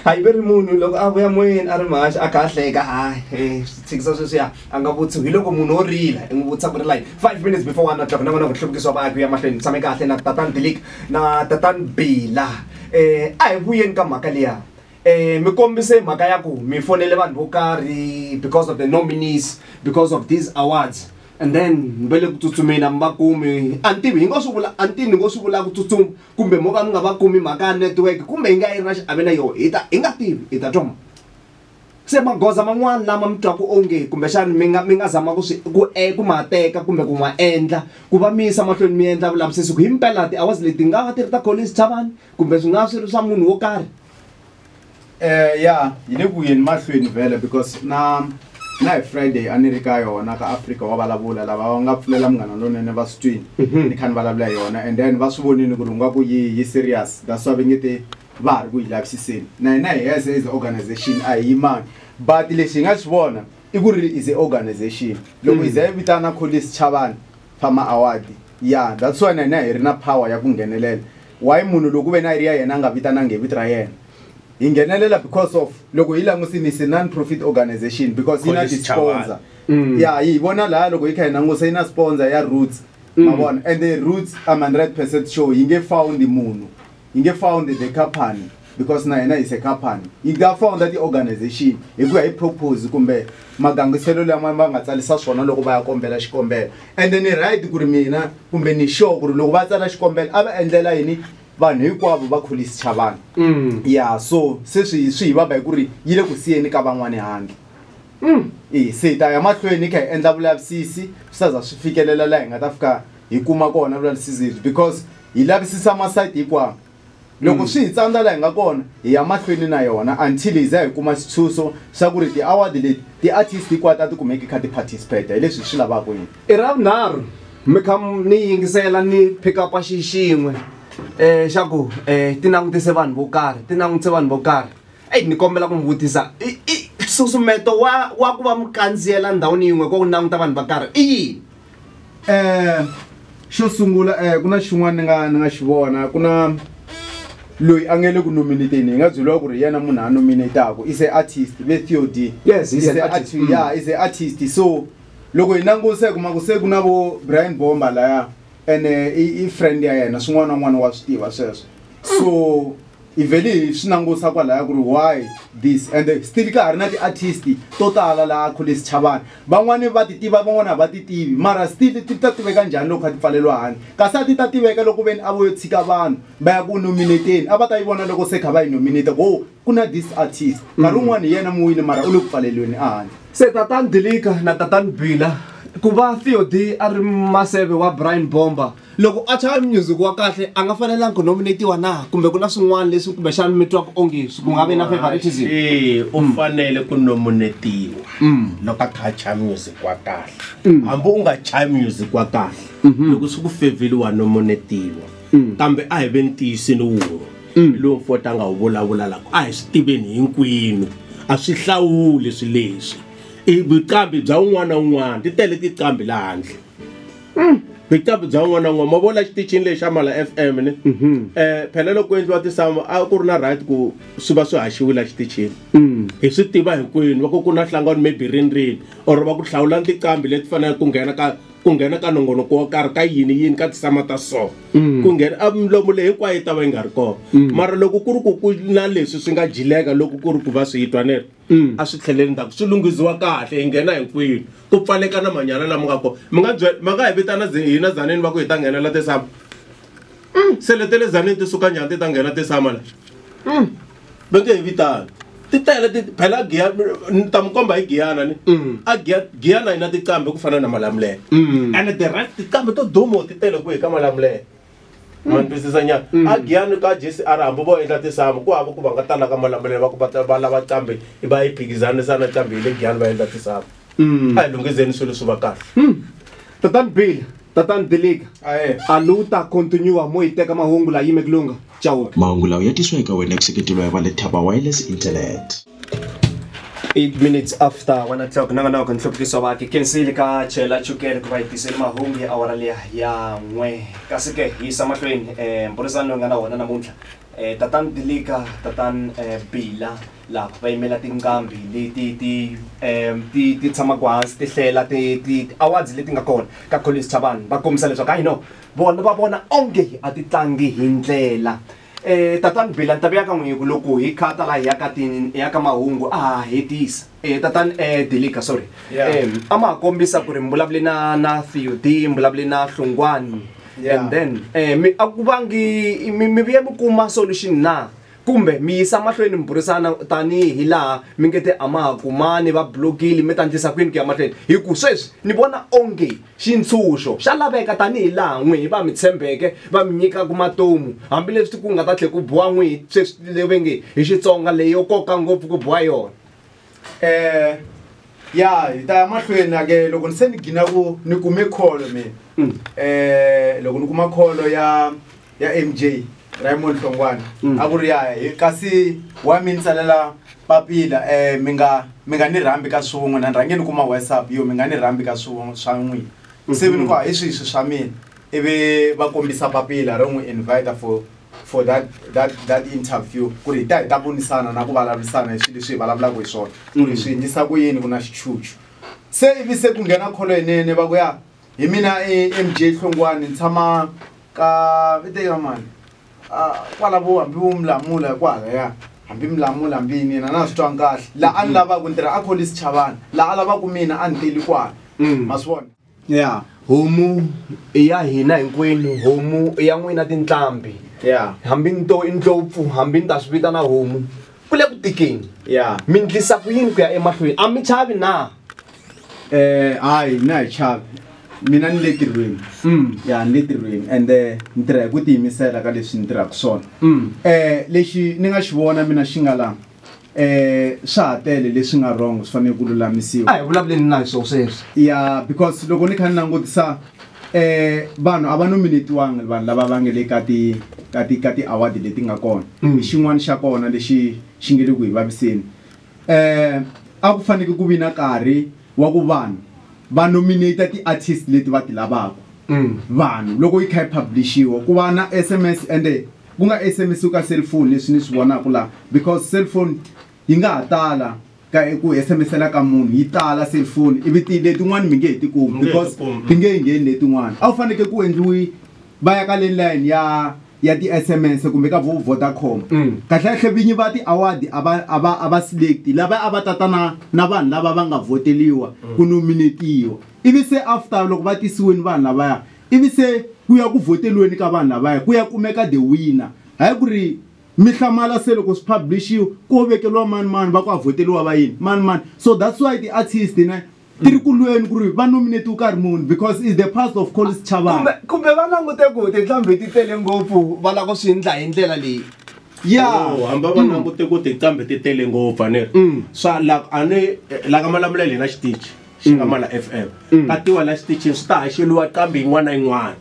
hayi ve ri munhu loko a vuya moyeni a ri mahaxi a kha a hleka hayi eh, swithikisa sweswiya a nga vutisi hi loko munhu wo rila i n'wi vutisa ku ri like five minutes before one o'clock na vona ku hluvukisiwa vaaki ya mahlweni tshame kahle na tatan bilik na tatan bila um a hi vuyeni ka mhaka liya um mi kombise mhaka ya ku mi fonele vanhu vo karhi because of the nominees because of these awards and then mi va le ku tsutsumeni a mi va kumi a ni tivi hi ngo swi vula a ni tivi ni ngo swi vula ku tsutsuma kumbe mo ka mi nga va kumi mhaka ya network kumbe yi nga yi ri na xiave na yoho hi ta hi nga tivi hi ta twa ma se magoza man'wani lama mi twaku onge kumbexani mi nga mi nga zama ku swi ku e ku ma teka kumbe ku ma endla ku va mi yisa mahlweni mi endla vulavisisi ku himpela ti-hours leti nga va ti ri ta Collins Chavani kumbe swi nga swi ri swa munhu wo karhi. Eh ya hi le ku yeni mahlweni vhele because na na hi Friday a ni ri ka yona ka Africa wa vulavula lava va nga pfulela munghana lonene va swi twini mhm. ni kha ni vulavula hi yona and then va swi vonile ku ri nga ku yi yi serious that's why va nge te va ha ri ku yi lavisiseni na hina hi as as organization a hi yimangi but lexi hi nga xi vona i ku ri is a organization loko hi za yi vitana kholice chavani pha ma award ya that's why na hina hi ri na power ya ku nghenelela why munhu loko ku ve na yi ri ya yena a nga vitanangi hi vito ra yena hi nghenelela because of loko hi langusini is non profit organization because yi na College ti-sponsor Mm. ya hi vona laha loko hi kha hi langusa yi na sponsor ya roots ma vona and the roots i'm 100 percent sure yi nge found munhu yi nge found the company because na hina is a company yi nga founda ti-organization hi ku ya hi propose kumbe magangiselo lama va nga tsarisa swona loko va ya kombela xikombelo ende ni right ku ri mina kumbe ni sure ku ri loko va tsala xikombelo a va endlela yini vanhu hinkwavo va kholisi cha vanhu mm. ya so se swi swi hi vava hi ku ri yi le ku siyeni ka van'wani handle mm. e se hi ta ya mahlweni hi kha hi endla vulavisisi swi ta za swi fikelela laha hi nga ta fika hi kuma kona vulavisisi lebyi because hi lavisisa masayiti hinkwawo loko mm. swi hi tsandza laha hi nga kona hi ya mahlweni na yona until hi za hi kuma xitshuxo xa ku ri ti-award leti ti-artist hinkwato a ti kumeki kha ti-participate hi leswi hi swi lavaka yini i ra vunharhu mi kha ni yingisela ni pick upa xi xin'we um xa ku um ti langutise vanhu vo karhi ti langutise vanhu vo karhi eyi ni kombela ku mi vutisa i susumeto wa wa ku va mi kandziyela ndhawini yin'we ko ku languta vanhu va karhi i yini um xo sungula um ku na xin'wana ni nga ni nga xi vona ku na loyi a nge le ku nominateni hi nga byeliwa ku ri yena munhu a nominataku is a artist ve theod yes he's an artist mm. ya is a artist so loko hi languse hi kuma ku se ku na vo brian bomba laya ene i friend ya yena swin'wana na n'wana wa swi tiva sweswo so hi vhele hi swi langusa kwalaya ku ri why this and still ka ha ri na ti-artist to tala laha khule sichavana van'wani va ti tiva van'wani a va ti tivi mara still ti ta tiveka njhani loko kha ti pfaleliwa handle kasi a ti ta tiveka loko veni a vo yo tshika vanhu va ya ku nominateni a va ta yi vona loko se kha va yi nominate ku o ku na this artist nkarhi mm. wun'wani hi yena mu wini mara u le ku pfaleliweni ehandle se tatani dilika na tatani bila ku va theod a ri maseve wa brian bomber loko a chaya music wa kahle a nga fanelanga ku nominatiwa na kumbe ku na swin'wana leswi kumbexana mi twaka onge ku nga vi na favoritism ee u mm. fanele ku nominatiwa mm. loko a kha a chaya music wa kahle mm. hambi u nga chaya music wa kahle mm-hmm. loko swi ku fevheli wa nominatiwa kambe a hi ve ntiyisini wun'we lowu mfota a nga wu vulavula lako a hi swi tiveni hinkwenu a swi hlawuli swi leswi i vuqambi bya un'wana na un'wana ti tele tiqambi laha handle mm. bitabu bya un'wana na un'wana ma vona xitichini lexi xa mala f m ni um mhm. eh, phela loko ku endliwa tisamu a ku ri na right ku swi va swi haxiwile xitichini mm. hi swi tiva hinkwenu va ku ku na hlangano maybe rini rini or va ku hlawula tiqambi leti faneleke ku nghena ka ku nghena ka nongonoko wo karhi ka yini yini ka tisama ta so mm. ku nghena a milomo leyi hinkwayo yi ta va yi nga ri kona mara loko ku ri ku ku na leswi swi nga jileka loko ku ri ku va swi yitwanela mm. a swi tlheleli ndzhaku swi lunghisiwa kahle hi nghena hinkwini ku pfaleka na manyala lama nga kona mi nga byela ma nga hi vitana hina zaneni va ku hi ta nghenela tisama mm. se lete le zaneni ti suka njhani ti ta nghena tisama la mm. va nge hi vitana ti tele ti phela giya ni ta mi komba hi giyana ni a giya giyana yi na tiqambe ku fana na malamulele ene the rest tiqambe to dumo ti tele ku hi ka malamulele ma ni twisisa nyana Mm. a giyani ka jesi a ri hambi vo endla tisamu ku hava ku va nga talaka malambe leyi va ku va ta- va lava cambe i va yi phikizanisa na cambe hi le giyani va endla tisamu Mm. a hi lunghizeni swilo swi va kahle tatani bill tatani dilika Aye. a lu ta continua mo yi teka mahungu la yime kulunga chauke mahungu lawa ya tisiwa eka wena ku seketeriwa hi va le thaba wireless internet 8 minutes after 1 o'clock na nga na ku nhluvukiso va ke kensile ka chela chukele ku va yi tisele mahungu ya awara liya ya n'we kasi ke hi yisa mahlweni um eh, mburisano loyi nga na wona namuntlha um tatan dilika tatan eh, bila lava va yimela tinqambi leti ti um ti ti tshamaka hansi ti hlela ti ti awards leti nga kona ka collins chavani va kombisa leswaku hayi no vona va vona onge a ti tlangi hi ndlela Eh, tatani Bill, a ni ta vuya ka n'wina hi ku loko hi khata laha hi ya ka tini hi ya ka mahungu a ha hetisa eh, tatani eh, Dilika sorry Yeah. eh, a ma ha kombisa ku ri mi vulavule na na Theodie mi vulavule na Hlungwani Yeah. and then eh, mi a ku vangi mi mi vuye mi kuma solution na kumbe mi yisa mahlweni mi burisana tanihi hi laha mi nge te a ma ha kumani va blokile mi ta ndlisa kwini ku ya mahlweni hi ku sweswi ni vona onge Xintshunxo xa laveka tanihi laha n'wihi va mi tshembeke va mi nyikaka matomu, hambi leswi ku nga ta tlhe ku biwa n'wihi sweswi le ve nge hi Xitsonga leyo koka ngopfu ku biwa yona. Eeh ya hi ta ya mahlweni a ke loko ni se ni gina ku ni kume call mina loko ni kuma call ya ya mj raymond hlongwana mm. a ku ri yaya kasi wa mi ni tsalela papila um mi nga mi nga ni rhambi ka swin'we na ni rhange ni kuma whatsapp yo mi nga ni rhambi ka swin'we swa n'wina mm-hmm. se vi ni ku hi swihi swi swa mina ivi va kombisa papila ro n'wi invita for for that that that interview ku ri hi ta hi ta vonisana na ku vulavurisana hi swilo leswi hi vulavulaka hi swona ku ri mm. swi endlisa ku yini ku na xichuchu se ivi se ku nghena kholo yinene va ku ya hi mina e mj hlongwani ni tshama ka viteka mani kwala vo hambi vo milamula hi kwala ya hambi milamula hambi yini yena na swi twanga kahle laha a ni lavaka ku ni tirha a kholisi chavana laha a lavaka mina a ni teli kwala mm. ma swi vona ya homu i ya hina hinkwenu homu i ya n'wina tinhlambi ya hambi ni to i ndlopfu hambi ni ta swi vitana homu ku le ku tikeni ya mi ndlisa ku yini ku ya emahlweni a mi chavi na Eh, hayi na hi chavi mina ni le tirhweni Mm. ya ni le tirhweni ende ni tirha hi ku tiyimisela ka leswi ni tirhaka swona Mm. eh lexi ni nga xi vona mina xi nga la eh swa ha tele leswi nga wrong swi fanele ku lulamisiwa a hi vulavuleni na hi swo sweswi ya because loko ni kha ni langutisa eh vanhu a va nominatiwanga vanhu lava va nge le ka ti ka ti ka ti-award leti nga kona Mm. xin'wana xa kona lexi xi nge le ku hi vaviseni eh a ku faneke ku vi na karhi wa ku vanhu va nominate ti-artist leti va ti lavaka Mm. vanhu loko yi kha yi publishiwa ku va na sms ende ku nga sms ka cellphone leswi ni swi vonaka laha because cellphone yi nga ha tala ka ku sms-ela ka munhu yi tala cellphone ivi ti letin'wani mi nge he ti kumi Mi nge he ti because kumi. ti nge yi ngheni letin'wani a wu faneke ku endliwi va ya ka le line ya ya ti-sms kumbe ka vo vodacom kahlekahle vinyi va ti-award a va a va a va select lava a va tata na na vanhu lava va nga vhoteliwa ku nominetiwa ivi se after loko va tisiweni vanhu lavaya ivi se ku ya ku vhoteliweni ka vanhu lavaya ku ya kumeka the winner hayi ku ri mi hlamala se loko swi publish-iwa ko vekeliwa mani mani va ku a vhoteliwa va yini mani mani so that's why ti-artist ne ti ri ku lweni ku ri va nominate wo karhi munhu because is the past of colis chavana kumbe va langute ku tinhlambi ti tele ngopfu va lava ku swi ndla hi ndlela leyi ya oh, hamba va mm. langute ku tinhlambi ti tele ngopfu a ni ri mm. swa la a ni la ka malamula hi lena xitichi xi nga mm. mala f m ka tiwa la xitichini swi ta haxeliwa qambi yin'wana na yin'wana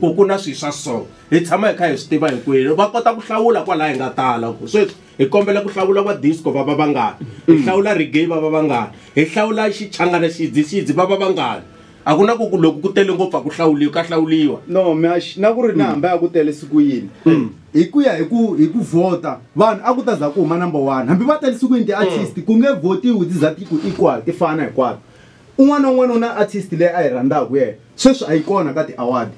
ku ku na swilo swa so hi tshama hi kha hi swi tiva hinkwenu va kota ku hlawula kwalaha hi nga tala ku sweswi hi kombela ku hlawula va disco va va vangani hi mm. hlawula reggae va va vangani hi hlawula xichangana xidzi xidzi va va vangani a ku na ku ku loko ku tele ngopfu a ku hlawuliwi ka hlawuliwa no mash na ku ri na mm. hambi a ku tele siku yini mm. hi ku ya hi ku hi ku vhota vanhu a ku ta za ku huma number one hambi va tele siku yini ti-artist ku nge vhotiwi ti za ti ku equal ti fana hinkwato un'wana na un'wana u na artist leyi a yi rhandzaka yena sweswi a yi kona ka ti-award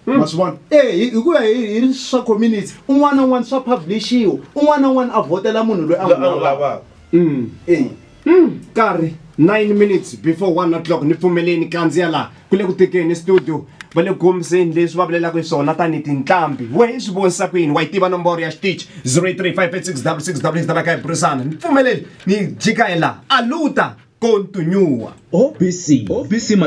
Hmm. ma swi vona e hi ku ya hi ri swa community un'wana na un'wana swa publishiwa un'wana na un'wana a vhotela munhu loyi a n'wi lavaka hmm. e hmm. karhi nine minutes before one o'clock ni pfumeleni kandziya laha ku le ku tekeni studio va le kombiseni leswi va vulelaka hi swona tanihi tinqambi we hi swi vonisa ku yini wa yi tiva nomboro ya xitichi 083 talaka hi burisana ni pfumeleli ni jika hi laha aluta kontunyuwa obc obc